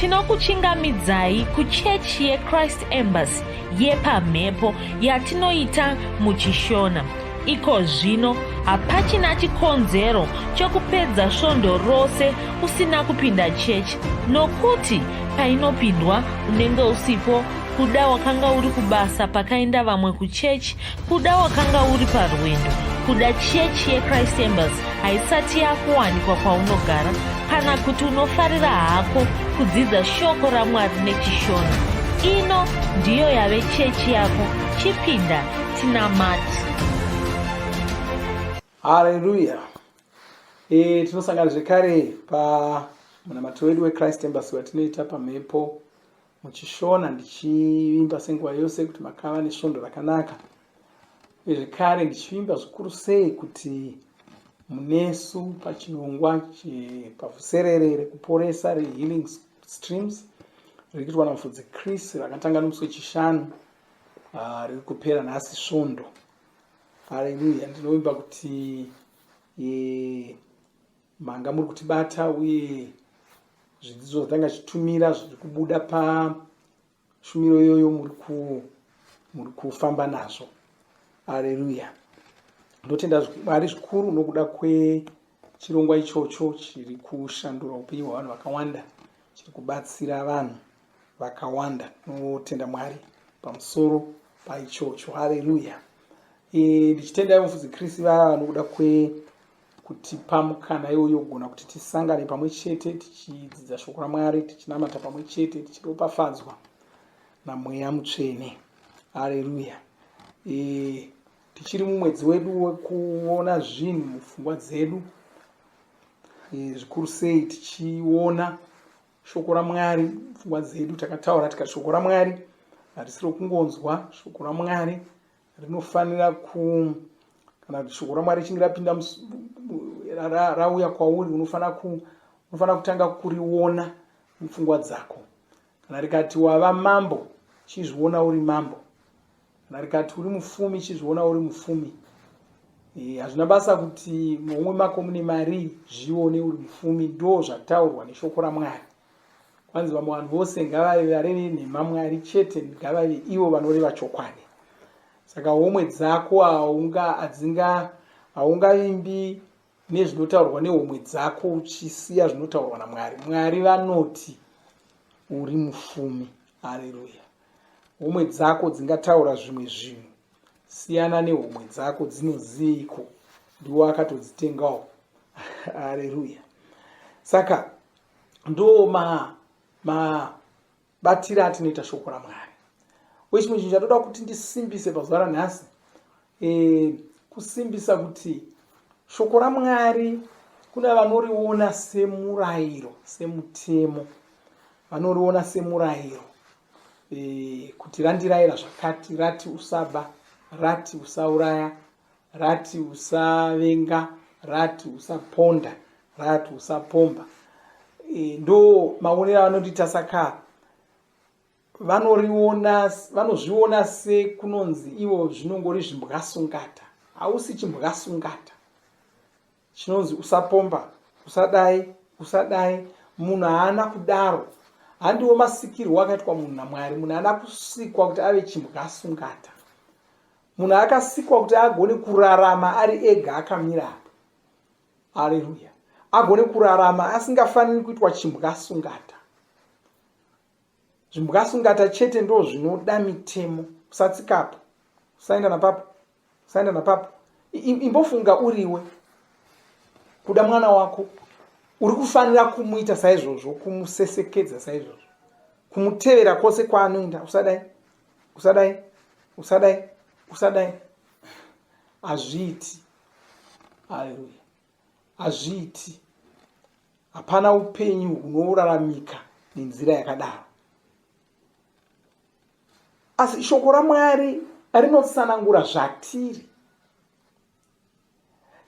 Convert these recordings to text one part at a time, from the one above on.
tinokuchingamidzai kuchechi yechrist embassy yepamhepo yatinoita muchishona iko zvino hapachina chikonzero chokupedza svondo rose usina kupinda chechi nokuti painopindwa unenge usipo kuda wakanga uri kubasa pakaenda vamwe kuchechi Kuda wakanga uri parwendo kuda chechi yechrist embers haisati yakuwanikwa kwaunogara kana kuti unofarira hako kudzidza shoko ramwari nechishona ino ndiyo yave chechi yako chipinda tinamati hareruya e, eh, tinosangana zvekare pamunamato wedu wechrist embers watinoita pamhepo muchishona ndichivimba senguva yose kuti makava nesvondo rakanaka uye zvekare ndichivimba zvikuru sei kuti munesu pachirongwa chepavuserere rekuporesa rehealing streams riri kuitwa namufudzi chris rakatanga nomusi wechishanu ah, riri kupera nhasi svondo hareruya ndinovimba kuti eh, Manga muri kutibata uye zvidzidzo zvatanga zvichitumira zviri kubuda pashumiro iyoyo muri kufamba nazvo. Aleluya. Ndotenda Mwari zvikuru nokuda kwechirongwa ichocho chiri kushandura upenyu hwevanhu vakawanda, chiri kubatsira vanhu vakawanda. Notenda Mwari pamusoro paichocho. Aleluya. E, ndichitenda mufudzi Kristu vava nokuda kwe kutipa mukana iwoyo wokugona kuti tisangane pamwe chete tichidzidza shoko ramwari tichinamata pamwe chete tichiropafadzwa namweya mutsvene hareruya e, tichiri mumwedzi wedu wekuona zvinhu mupfungwa dzedu e, zvikuru sei tichiona shoko ramwari mupfungwa dzedu takataura tikati shoko ramwari harisi rokungonzwa shoko ramwari rinofanira ku kana kuti shoko ramwari richinge rapinda rauya kwauri unofanira ku unofanira kutanga kuriona mupfungwa dzako kana rikati wava mambo chizviona uri mambo kana rikati uri mufumi chizviona uri mufumi eh, hazvina e, basa kuti momwe mako mune mari zvione uri mufumi ndo zvataurwa neshoko ramwari kwanzi vamwe vanhu vose ngavave vareve nhema mwari chete ngavave ivo vanoreva chokwadi saka homwe dzako haunga adzinga haungavimbi nezvinotaurwa nehomwe dzako uchisiya zvinotaurwa namwari mwari vanoti uri mufumi hareruya homwe dzako dzingataura zvimwe zvinhu siyana nehomwe dzako dzinoziveiko ndiwo akatodzitengawo hareruya saka ndo ma mabatira atinoita shoko ramwari wechimwe chinhu chatoda kuti ndisimbise pazuva ranhasi e, kusimbisa kuti shoko ramwari kuna vanoriona semurayiro semutemo vanoriona semurayiro e, kuti randirayira zvakati rati usaba rati usauraya Rati usavenga, rati usaponda, rati usapomba. E, ndo maonero avanoti tasaka vanoriona vanozviona sekunonzi ivo zvinongori zvimbwasungata hausi chimbwasungata chinonzi usapomba usadai usadai munhu haana kudaro handiwo masikirwo akaitwa munhu namwari munhu haana kusikwa kuti ave chimbwa sungata munhu akasikwa kuti agone kurarama ari ega akamira apa aleluya agone kurarama asingafaniri kuitwa chimbwa sungata zvimbwasungata chete ndo zvinoda mitemo usatsikapa usaenda napapo usaenda napapo imbofunga uriwe kuda mwana wako uri kufanira kumuita saizvozvo kumusesekedza saizvozvo kumutevera kwose kwaanoenda usadai usadai usadai usadai hazviiti haleluya hazviiti hapana upenyu hunouraramika nenzira yakadaro asi shoko ramwari rinotsanangura zvatiri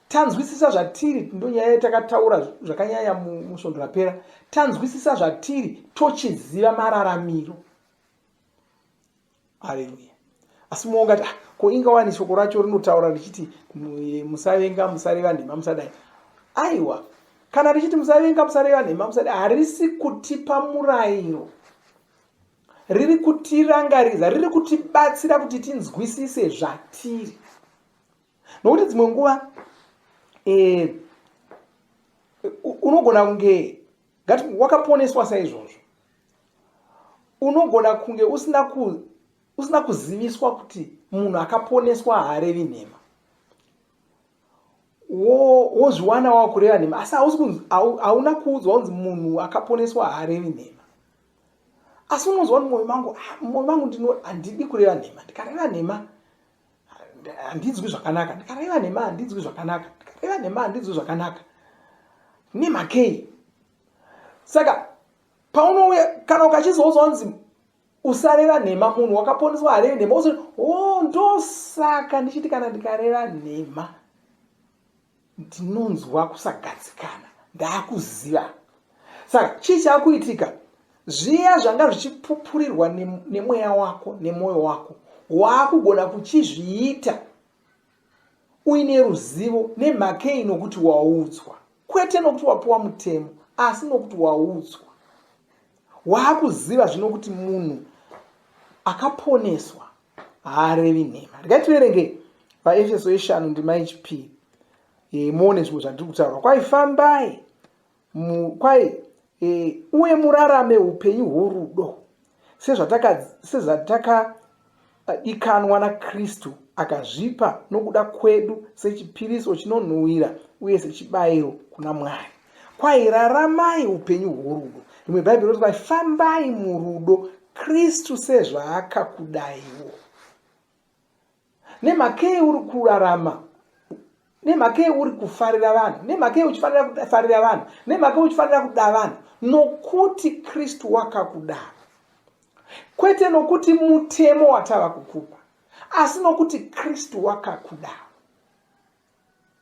tanzwisisa zvatiri ndonyaya yatakataura zvakanyanya musvondo rapera tanzwisisa zvatiri tochiziva mararamiro haleluya asi mumwe ungati ah, ko inga wani shoko racho rinotaura richiti musavenga musareva nhema musadai aiwa kana richiti musavenga musareva nhema musadai harisi kutipa murayiro riri kutirangaridza riri kutibatsira kuti tinzwisise zvatiri nokuti dzimwe nguva eh, unogona kunge Ngati wakaponeswa saizvozvo. Unogona kunge usina ku usina kuziviswa kuti munhu akaponeswa haarevi nhema. Wozviwana wo wakureva nhema asi hausi kunzi hauna kuudzwa kunzi munhu akaponeswa haarevi nhema asi unonzwa kuti mwoyo mangu ah, mwoyo mangu ndino handidi kureva nhema ndikareva nhema handinzwi zvakanaka ndikareva nhema handinzwi zvakanaka ndikareva nhema handinzwi zvakanaka nemakei saka paunouya kana ukachizouza wanzi usareva nhema munhu wakaponeswa harevi nhema usi o oh, ndosaka ndichiti kana ndikareva nhema ndinonzwa kusagadzikana ndaakuziva saka chii chaakuitika zviya zvanga zvichipupurirwa nemweya wako nemwoyo wako waakugona kuchizviita uine ruzivo nemhakei nokuti waudzwa kwete nokuti wapiwa mutemo asi nokuti waudzwa waakuziva zvino kuti munhu akaponeswa haarevi nhema regai tiverenge vaefeso yeshanu ndima yechipiri e, muone zvimwe zvandiri kutaura kwai fambai kwai e, uye murarame upenyu hworudo sezvatakadikanwa nakristu akazvipa nokuda kwedu sechipiriso chinonhuhwira uye sechibayiro kuna mwari Kwai raramai upenyu hworudo. Rimwe Bhaibheri rinoti kwai fambai murudo Kristu sezvaakakudaiwo. Nemhakei uri kurarama nemhakei uri kufarira vanhu nemhakei uchifanira kufarira vanhu nemhakei uchifanira kuda vanhu nokuti kristu wakakudaro kwete nokuti mutemo watava kukupa asi nokuti kristu wakakudaro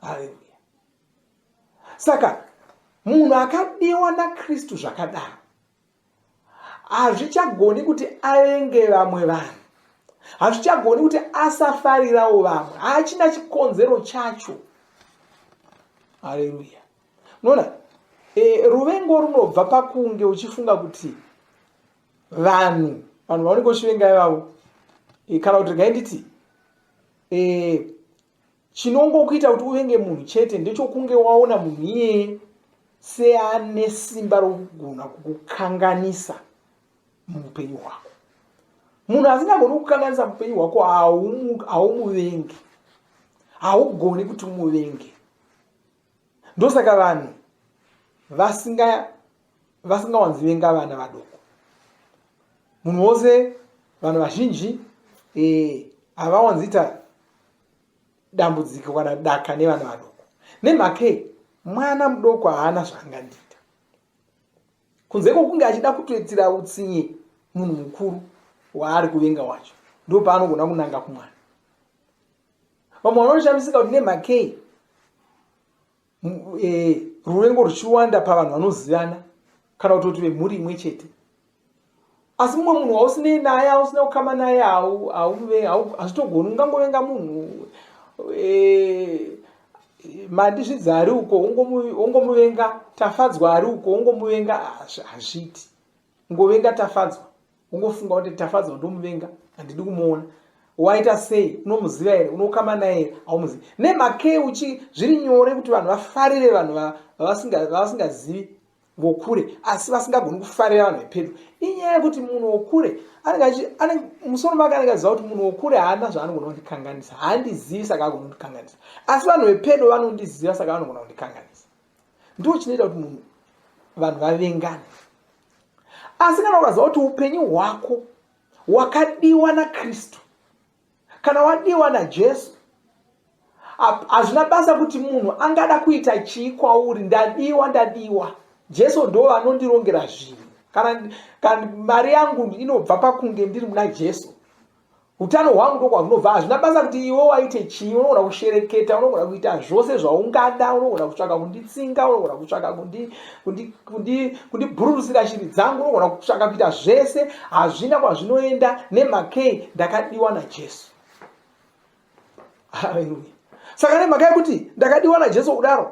haleluya saka munhu akadiwa nakristu zvakadaro hazvichagoni kuti avenge vamwe vanhu hazvichagoni kuti asafarirawo vamwe haachina chikonzero chacho haleluya unoona e, ruvengo runobva pakunge uchifunga kuti vanhu vanhu vaunenge uchivenga ivavo e, kana kuti regai nditi e, chinongokuita kuti uvenge munhu chete ndechokunge waona munhu iyeye seane simba rokugona kukukanganisa muupenyu hwako munhu asingagoni kukanganisa muupenyu hwako haumuvengi haugoni kuti umuvenge ndosaka vanhu vasinga vasingawanzi venga vana vadoko munhu wose vanhu vazhinji eh, havawanziita dambudziko kana daka nevana vadoko nemhakei mwana mudoko haana zvaangandiita kunze kwokunge achida kutoitira utsinye munhu mukuru waari kuvenga wacho ndo paanogona kunanga kumwana vamwe vanoshamisika kuti nemhakei e, ruvengo ruchiwanda pavanhu vanozivana kana kutoti vemhuri imwe chete asi mumwe munhu wausinei naye ausina kukama naye hazvitogoni ungangovenga munhu e, mandizvidzi ari uko ongomuvenga tafadzwa ari uko ongomuvenga hazviti ngovenga tafadzwa ungofunga kuti tafadzwa ndomuvenga handidi kumuona waita sei unomuziva here unokama naye here haumuzivi nemhakei uchi zviri nyore kuti vanhu vafarire vanhu vavasingazivi vokure asi vasingagoni kufarira vanhu vepedyo inyaya yekuti munhu wokure musoro make anenge aziva kuti munhu wokure haana zvaanogona kundikanganisa haandizivi saka agona kundikanganisa asi vanhu vepedyo vanondiziva saka vanogona kundikanganisa ndo chinoita kuti munhu vanhu vavengane asi kana ukaziva kuti upenyu hwako wakadiwa nakristu kana wadiwa najesu hazvina basa kuti munhu angada kuita chii kwauri ndadiwa ndadiwa jesu ndo vanondirongera zvinhu kana mari yangu inobva pakunge ndiri muna jesu Utano hwangu ndokwahunobva. Hazvina basa kuti iwe waite chii, unogona kushereketa, unogona kuita zvose zvaungada, unogona kutsvaka kunditsinga, unogona kutsvaka kundibhururutsira kundi, kundi shiri dzangu, unogona kutsvaka kuita zvese. Hazvina kwazvinoenda nemakei ndakadiwa naJesu. Haleluya. Saka nemhaka yekuti ndakadiwa naJesu kudaro,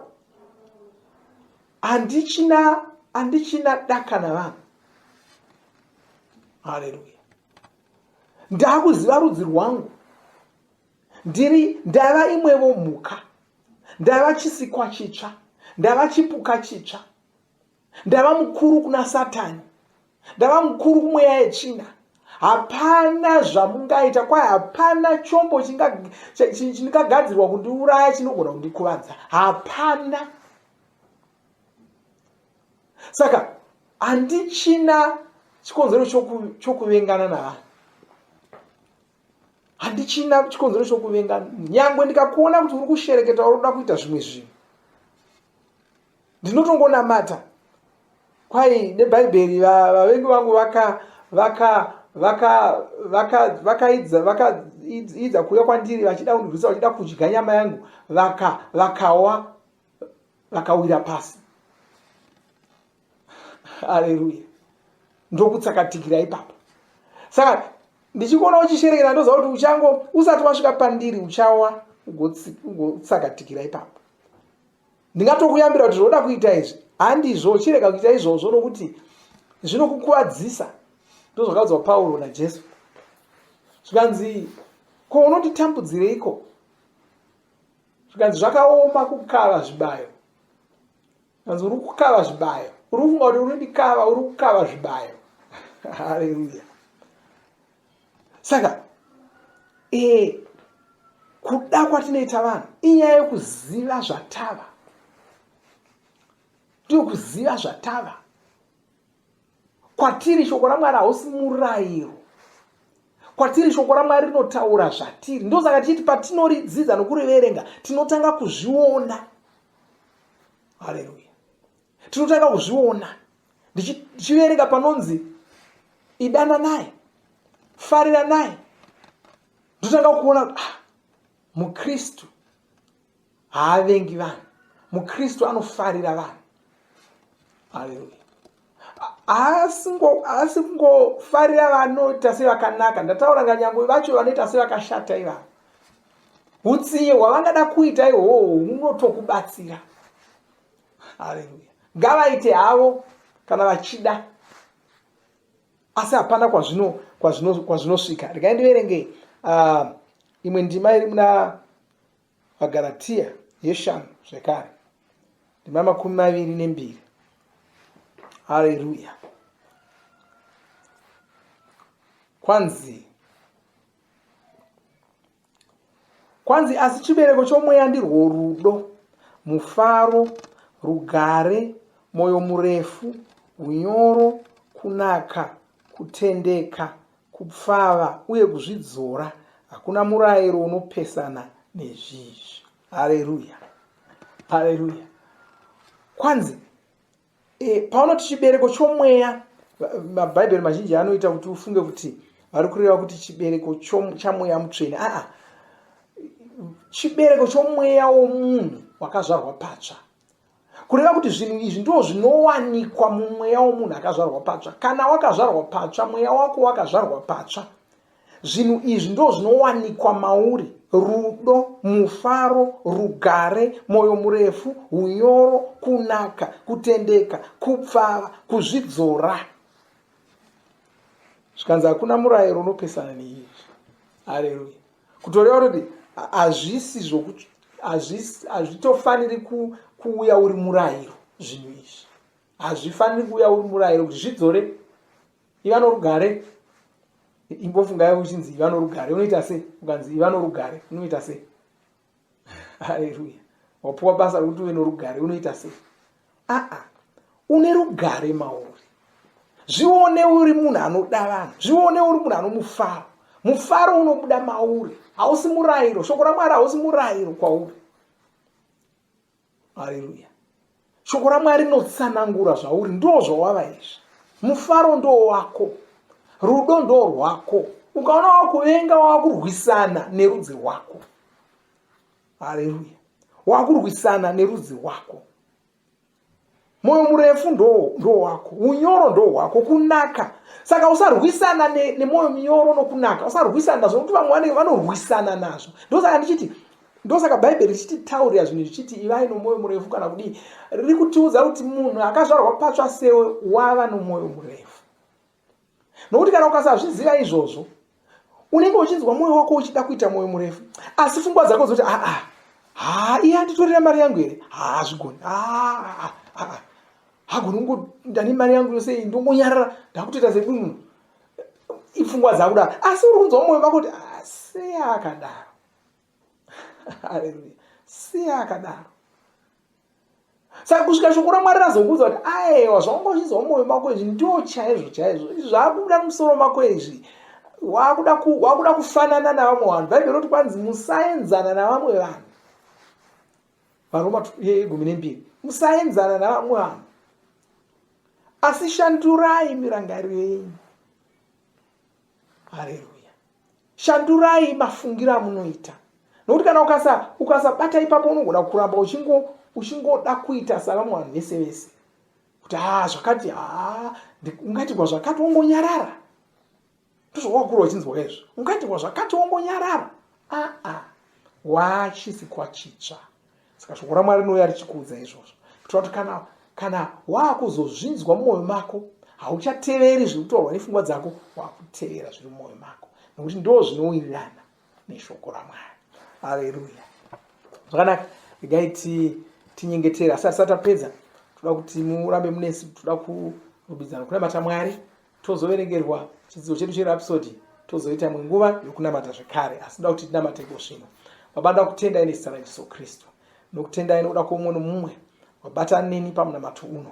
handichina handichina daka navanhu. Haleluya. ndakuziva rudzi rwangu ndiri ndava imwevo mhuka ndava chisikwa chitsva ndava chipuka chitsva ndava mukuru kuna satani ndava mukuru kumweya yetsvina hapana zvamungaita kwaye hapana chombo chingagadzirwa kundiuraya chinogona kundikuvadza hapana saka handichina chikonzero chokuvengana navanhu handichina chikonzero chokuvengana nyangwe ndikakuona kuti uri kushereketa uri kuda kuita zvimwe zvinhu ndinotongonamata kwai nebhaibheri vavengi vangu vaka vaka vaka vaka vakaidza vaka idza kuuya kwandiri vachida kundirwisa vachida kudya nyama yangu vaka vakawa vakawira pasi haleluya ndokutsakatikira ipapa saka ndichikuona uchisherekera ndoziva kuti uchango usati wasvika pandiri uchawa ugotsakatikira ipapa ndingatokuyambira kuti zvoda kuita izvi handizvo chirega kuita izvozvo nokuti zvinokukuvadzisa ndozvakaudzwa pauro najesu zvikanzi ko unonditambudzireiko zvikanzi zvakaoma kukava zvibayo kanzi uri kukava zvibayo uri kufunga kuti uri ndikava uri kukava zvibayo haleluya saka e, kuda kwatinoita vanhu inyaya yekuziva zvatava ndiyo kuziva zvatava kwatiri shoko ramwari hausi murayiro kwatiri shoko ramwari rinotaura zvatiri ndosaka tichiti patinoridzidza nokuriverenga tinotanga kuzviona haleluya tinotanga kuzviona ndichiverenga panonzi idana naye farira naye ndotanga kuona ah, mukristu haavengi vanhu mukristu anofarira vanhu haleluya haasi kungofarira vanoita sevakanaka ndataura nganyangwe vacho vanoita sevakashata ivavo utsiye hwavangada kuita ihwohwo hunotokubatsira haleluya ngavaite havo kana vachida asi hapana kwazvino kwazvinosvika regai ndiverengei uh, imwe ndima iri muna VaGaratia yeshanu zvekare ndima makumi maviri nembiri hareruya kwanzi kwanzi asi chibereko chomweya ndirwo rudo mufaro rugare mwoyo murefu unyoro kunaka kutendeka Kupfava uye kuzvidzora hakuna murairo unopesana nezvizvi. Hareruya, hareruya. Kwanzi e, paunoti chibereko chomweya, mabhaibheri mazhinji anoita kuti ufunge kuti vari kureva kuti chibereko chamweya mutsvene. Aa, chibereko chomweya womunhu wakazvarwa patsva kureva kuti zvinhu izvi ndoo zvinowanikwa mumweya womunhu akazvarwa patsva kana wakazvarwa patsva mweya wako wakazvarwa patsva zvinhu izvi ndoo zvinowanikwa mauri rudo mufaro rugare mwoyo murefu unyoro kunaka kutendeka kupfava kuzvidzora zvikanzi hakuna murayiro unopesana neizvi hareruya kutoreva kuti hazvisi zvokuti hazvitofaniri kuuya uri murayiro zvinhu izvi hazvifaniri kuuya uri murayiro kuti zvidzore iva norugare imbofungayo uchinzi iva norugare unoita sei ukanzi iva norugare unoita sei haleluya wapuwa basa rekuti uve norugare unoita sei aa une rugare mauri zvione uri munhu anoda vanhu zvione uri munhu anomufaro mufaro unobuda mauri hausi murayiro shoko ramwari hausi murayiro kwauri haleluya shoko ramwari rinotsanangura zvauri ndoo zvawava izvi mufaro ndoo wako rudo ndoo rwako ukaona wakuvenga wakurwisana nerudzi rwako haleluya wakurwisana nerudzi rwako mwoyo murefu ndoo wako unyoro ndoo wako kunaka saka usarwisana nemwoyo ne minyoro nokunaka usarwisana nazvo nokuti vamwe vanenge vanorwisana nazvo ndosaka ndichiti ndosaka bhaibheri richiti taurira zvinhu zvichiti ivai nomwoyo murefu kana kudii riri kutiudza kuti munhu akazvarwa patsva sewe wava nomwoyo murefu nokuti kana ukasazviziva izvozvo unenge uchinzwa mwoyo wako uchida kuita mwoyo murefu asi fungwa dzako dzoti aa ah, haa ah, iye anditorera mari yangu here haa zvigoni aa ah, hagoni kungo ndane mari yangu yose iyi ndongonyarara ndakutoita sekunhu ifungwa dzakudaro asi uri kunzwa mwoyo vako kuti asi akadaro haleluya si akadaro saka kusvika shoko ramwari razokuudza kuti aewa zvaungozvinzwa mumwoyo mako izvi ndo chaizvo chaizvo izvi zvaakubuda mumusoro mako izvi wakuda wakuda kufanana navamwe vanhu bhaibheri roti kwanzi musaenzana navamwe vanhu varoma yegumi nembiri musaenzana navamwe vanhu asi shandurai mirangariro yenyu haleluya shandurai mafungiro amunoita nokuti kana ukasa ukasabata ipapo unogona kuramba uchingo uchingoda kuita salamu vanhu vese vese kuti haa ah, zvakati haa ah, ungatigwa zvakati wongonyarara ndozvawakura uchinzwa izvo ungatigwa zvakati wongonyarara aa ah, wachisi kwachitsva saka shoko ramwari rinouya richikuudza izvozvo kuitira kuti kana kana waakuzozvinzwa mumwoyo mako hauchateveri zviri kutaurwa nepfungwa dzako wakutevera zviri mumwoyo mako nokuti ndo zvinowirirana neshoko ramwari aleluya zvakanaka regai tinyengetere asi asati apedza toda kuti murambe munesi toda kurumbidzana kunamata mwari tozoverengerwa chidzidzo chedu cherapsodi tozoita imwe nguva yokunamata zvekare asi ndoda kuti tinamate iko svino baba ndoda kutendai nezita rajesu kristu nokutendai nokuda kwoumwe nomumwe wabatana neni pamunamato uno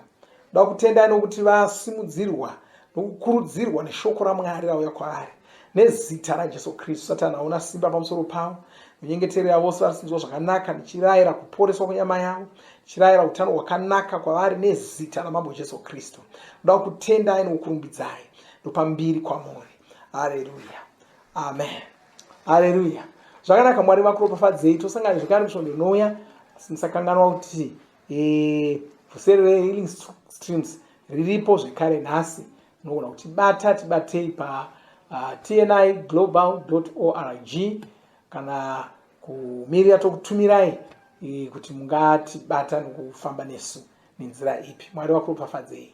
ndoda kutendai nokuti vasimudzirwa nokukurudzirwa neshoko ramwari rauya kwaari nezita rajesu kristu satani hauna simba pamusoro pavo minyengetero yavose vari sinzwa zvakanaka ndichirayira kuporeswa kwenyama yavo ndichirayira utano hwakanaka kwavari nezita ramambo jesu kristu ndoda kutendai nokukurumbidzai ndopambiri kwamuri hareruya amen hareruya zvakanaka mwari vakuropafadzei tosangana zvekare musvondo inouya asi musakanganwa kuti Eh, vhuseri rehealing streams riripo zvekare nhasi unogona kutibata tibatei pa uh, tni global org kana kumirira tokutumirai eh, kuti mungatibata nokufamba nesu nenzira ipi mwari vakuropafadzei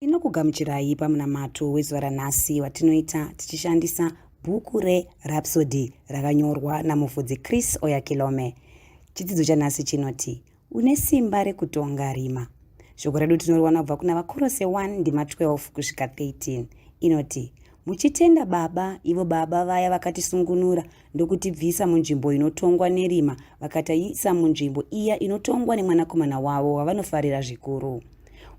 tinokugamuchirai pamunamato wezuva ranhasi watinoita tichishandisa bhuku rerapsody rakanyorwa namufudzi chris oyakilome chidzidzo chanhasi chinoti Une simba rekutonga rima. Shoko redu tinoriwana kubva kuna Vakorose 1 ndima 12 kusvika 13 inoti muchitenda Baba, ivo Baba vaya vakatisungunura ndokutibvisa munzvimbo inotongwa nerima vakataisa munzvimbo iya inotongwa nemwanakomana wavo wavanofarira zvikuru.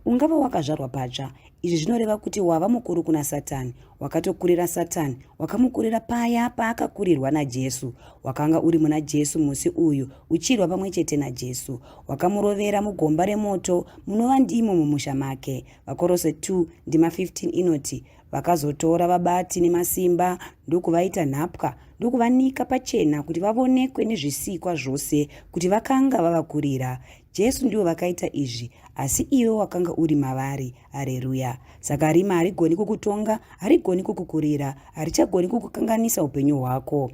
Ungava wakazvarwa patsva, Izvi zvinoreva kuti wava mukuru kuna Satani, wakatokurira Satani, wakamukurira paya paakakurirwa naJesu. Wakanga uri muna Jesu musi uyu, uchirwa pamwe chete naJesu. Wakamurovera mugomba remoto, munova ndimo mumusha make. Vakorose 2 ndima 15 inoti, Vakazotora vabati nemasimba ndokuvaita nhapwa ndokuvanika pachena kuti vavonekwe nezvisikwa zvose kuti vakanga vavakurira. Jesu ndivo vakaita izvi, asi iwe wakanga uri mavari. Hareruya! Saka rima harigoni kukutonga, harigoni kukukurira, harichagoni kukukanganisa upenyu hwako.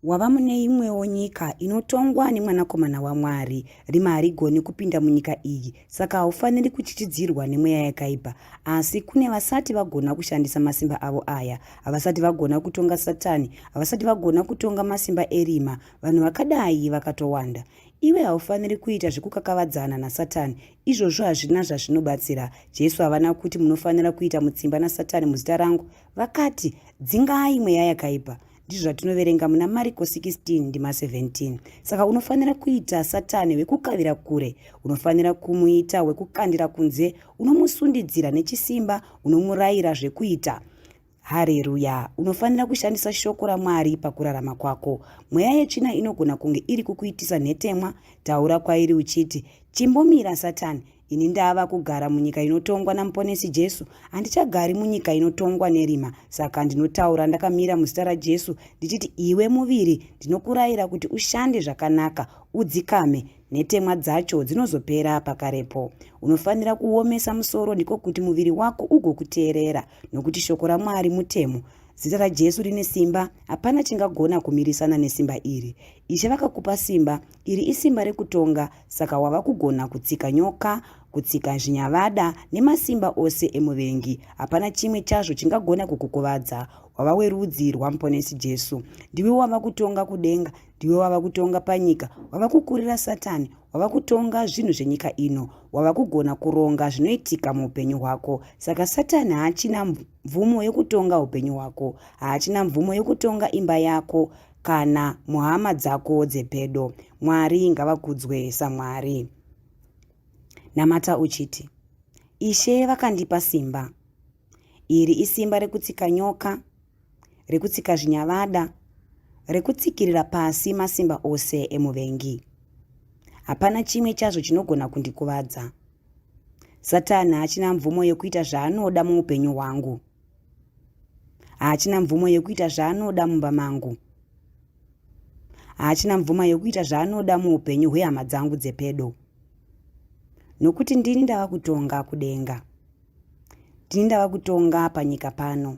Wava mune imwewo nyika inotongwa neMwanakomana waMwari. Rima harigoni kupinda munyika iyi, saka haufaniri kuchichidzirwa nemweya yakaipa. Asi kune vasati vagona kushandisa masimba avo aya, havasati vagona kutonga Satani, havasati vagona kutonga masimba erima. Vanhu vakadai vakatowanda. Iwe haufaniri kuita zvekukakavadzana naSatani. Izvozvo hazvina zvazvinobatsira. Jesu havana kuti munofanira kuita mutsimba naSatani muzita rangu. Vakati, dzingai mweya yakaipa. Ndizvo zvatinoverenga muna Mariko 16 ndima 17. Saka unofanira kuita Satani wekukavira kure. Unofanira kumuita wekukandira kunze. Unomusundidzira nechisimba. Unomurayira zvekuita. Hareruya! Unofanira kushandisa shoko raMwari pakurarama kwako. Mweya yetsvina inogona kunge iri kukuitisa nhetemwa. Taura kwairi uchiti, Chimbomira, Satani! Ini ndava kugara munyika inotongwa naMuponesi Jesu. Handichagari munyika inotongwa nerima. Saka ndinotaura ndakamira muzita raJesu ndichiti, Iwe muviri, ndinokurayira kuti ushande zvakanaka, udzikame. Nhetemwa dzacho dzinozopera pakarepo. Unofanira kuomesa musoro ndiko kuti muviri wako ugokuteerera. Nokuti shoko raMwari mutemo, zita raJesu rine simba, hapana chingagona kumirisana nesimba iri. Ishe vakakupa simba, iri isimba rekutonga, saka wava kugona kutsika nyoka, kutsika zvinyavada nemasimba ose emuvengi. Hapana chimwe chazvo chingagona kukukuvadza. Wava werudzi rwaMuponesi Jesu. Ndiwe wava kutonga kudenga, ndiwe wava kutonga panyika, wava kukurira Satani, wava kutonga zvinhu zvenyika ino wava kugona kuronga zvinoitika muupenyu hwako saka satani haachina mvumo yekutonga upenyu hwako haachina mvumo yekutonga imba yako kana muhama dzako dzepedo mwari ngavakudzwe samwari namata uchiti ishe vakandipa simba iri isimba rekutsika nyoka rekutsika zvinyavada, rekutsikirira pasi masimba ose emuvengi. Hapana chimwe chazvo chinogona kundikuvadza. Satani haachina mvumo yekuita zvaanoda muupenyu hwangu. Haachina mvumo yekuita zvaanoda mumba mangu. Haachina mvumo yekuita zvaanoda muupenyu hwehama dzangu dzepedo. Nokuti ndini ndava kutonga kudenga. Ndini ndava kutonga panyika pano.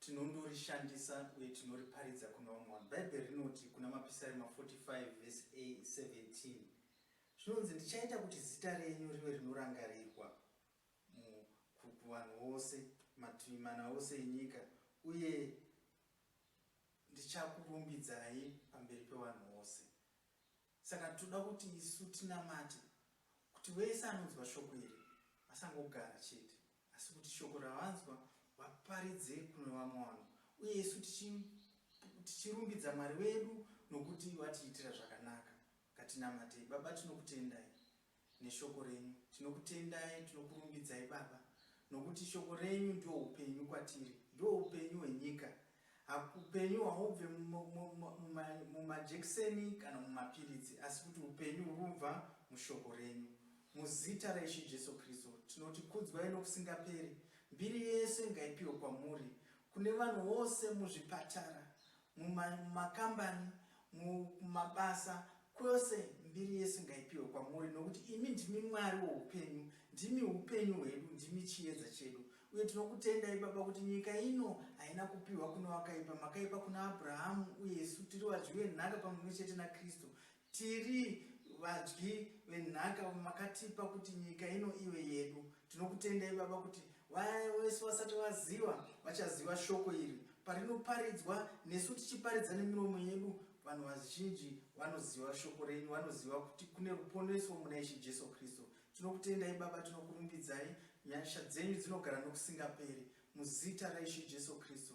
Tinondorishandisa uye tinoriparidza kuna vamwe vanhu. Bhaibheri rinoti kuna Mapisarema 45 vhesi 17 zvinonzi, Ndichaita kuti zita renyu rive rinorangarirwa kuvanhu vose, mativi mana ose enyika, uye ndichakurumbidzai pamberi pevanhu vose. Saka toda kuti isu tinamate kuti wese anonzwa shoko iri vasangogara chete asi kuti shoko ravanzwa vaparidze kune vamwe vanhu uye isu tichirumbidza Mwari wedu nokuti vatiitira zvakanaka. Ngatinamatei. Baba tinokutendai. neshoko renyu. Tinokutendai, tinokurumbidzai Baba nokuti shoko renyu ndihwo upenyu kwatiri, ndihwo upenyu hwenyika. Upenyu hahubve mumajekiseni kana mumapiritsi asi kuti upenyu huri kubva mushoko renyu. Muzita raIshe Jesu Kristu tinoti kudzwai nokusingaperi. Mbiri yese ngaipiwe kwamuri. Kune vanhu vose muzvipatara, mumakambani, mumabasa, kwose mbiri yesu ngaipiwe kwamuri nokuti imi ndimi mwari woupenyu ndimi upenyu hwedu ndimi chiedza chedu uye tinokutendai baba kuti nyika ino haina kupiwa kune wakaipa makaipa kuna abrahamu uye isu tiri vadyi venhaka pamwe chete nakristu Tiri vadyi venhaka makatipa kuti nyika ino ive yedu. Tinokutendai baba kuti vaya vese vasati vaziva vachaziva shoko iri parinoparidzwa nesu tichiparidza nemiromo yedu vanhu vazhinji vanoziva shoko renyu vanoziva kuti kune ruponeso muna ishe Jesu Kristu. Tinokutendai baba tinokurumbidzai nyasha dzenyu dzinogara nokusingaperi muzita raishe Jesu Kristu.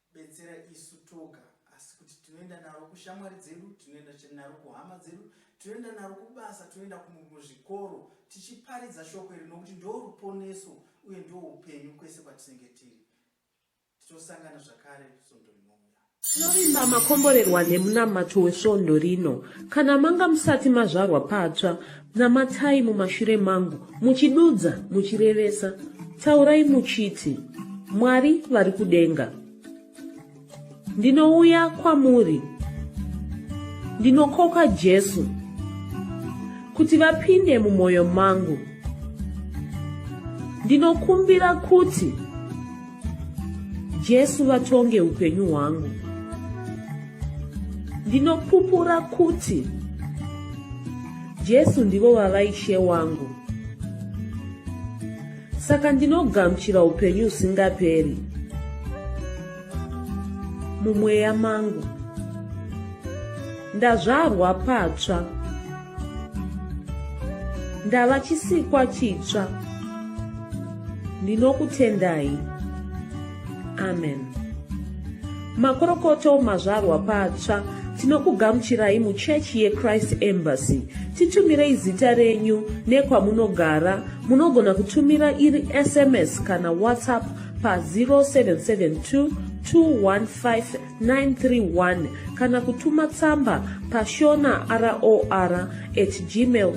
betsera isu toga asi kuti tinoenda naro kushamwari dzedu tinoenda naro kuhama dzedu tinoenda naro kubasa tinoenda kumuzvikoro tichiparidza shoko iri nokuti ndo ruponeso uye ndo upenyu kwese kwatinenge tiri titosangana zvakare svondo rinouya tinovimba makomborerwa nemunamato wesvondo rino kana manga musati mazvarwa patsva Namatai mumashure mangu, muchidudza, muchirevesa, taurai muchiti, Mwari vari kudenga. Ndinouya kwamuri, ndinokoka Jesu, kuti vapinde mumwoyo mangu. Ndinokumbira kuti Jesu vatonge upenyu hwangu. Ndinopupura kuti Jesu ndivo vava ishe wangu. Saka ndinogamuchira upenyu usingaperi mumweya mangu. Ndazvarwa patsva. ndava chisikwa chitsva ndinokutendai amen makorokoto mazvarwa patsva tinokugamuchirai muchechi yechrist embassy titumirei zita renyu nekwamunogara munogona kutumira iri sms kana whatsapp pa 0772 215 931 kana kutuma tsamba pashona ror at gmail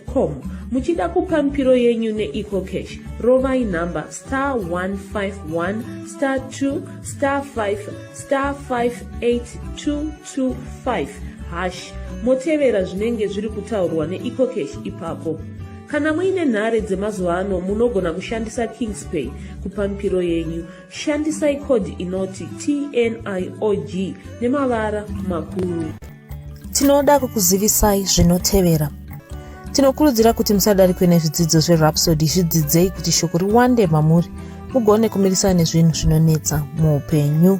com muchida kupa mipiro yenyu neecocash rovai nhamba star 151 star 2 star 5 star 58225 hash motevera zvinenge zviri kutaurwa neecocash ipapo kana muine nhare dzemazuva ano munogona kushandisa kingspay kupa mipiro yenyu Shandisai code inoti TNIOG nemavara makuru. Tinoda kukuzivisai zvinotevera. Tinokurudzira kuti musadarikwe nezvidzidzo zveRhapsody zvidzidzei kuti shoko riwande mamuri mugone kumirisana nezvinhu zvinonetsa muupenyu.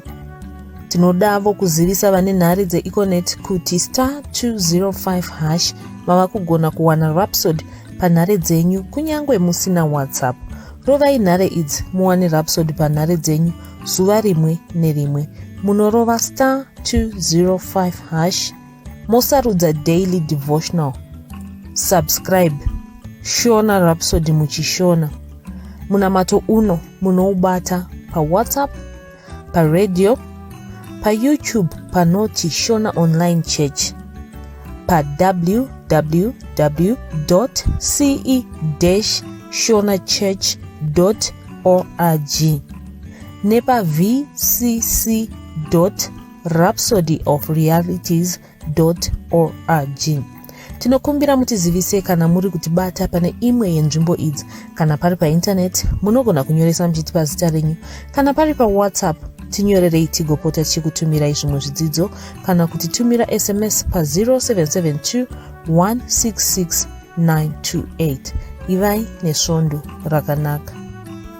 Tinodavo kuzivisa vane nhare dzeEconet kuti star 205 hash mava kugona kuwana Rhapsody panhare dzenyu kunyange musina WhatsApp. Rovai nhare idzi muwane Rhapsody panhare dzenyu zuva rimwe nerimwe. Munorova star 205 hash mosarudza daily devotional. Subscribe Shona Rhapsody muchishona. Munamato uno munoubata paWhatsApp paradio payoutube panoti shona online church pawww ce shona church org nepavcc rhapsody of realities org tinokumbira mutizivise kana muri kutibata pane imwe yenzvimbo idzi kana pari paintaneti munogona kunyoresa muchitipa zita renyu kana pari pawhatsapp tinyorerei tigopota tichikutumirai zvimwe zvidzidzo kana kuti tumira sms pa 0772 166 928 ivai nesvondo rakanaka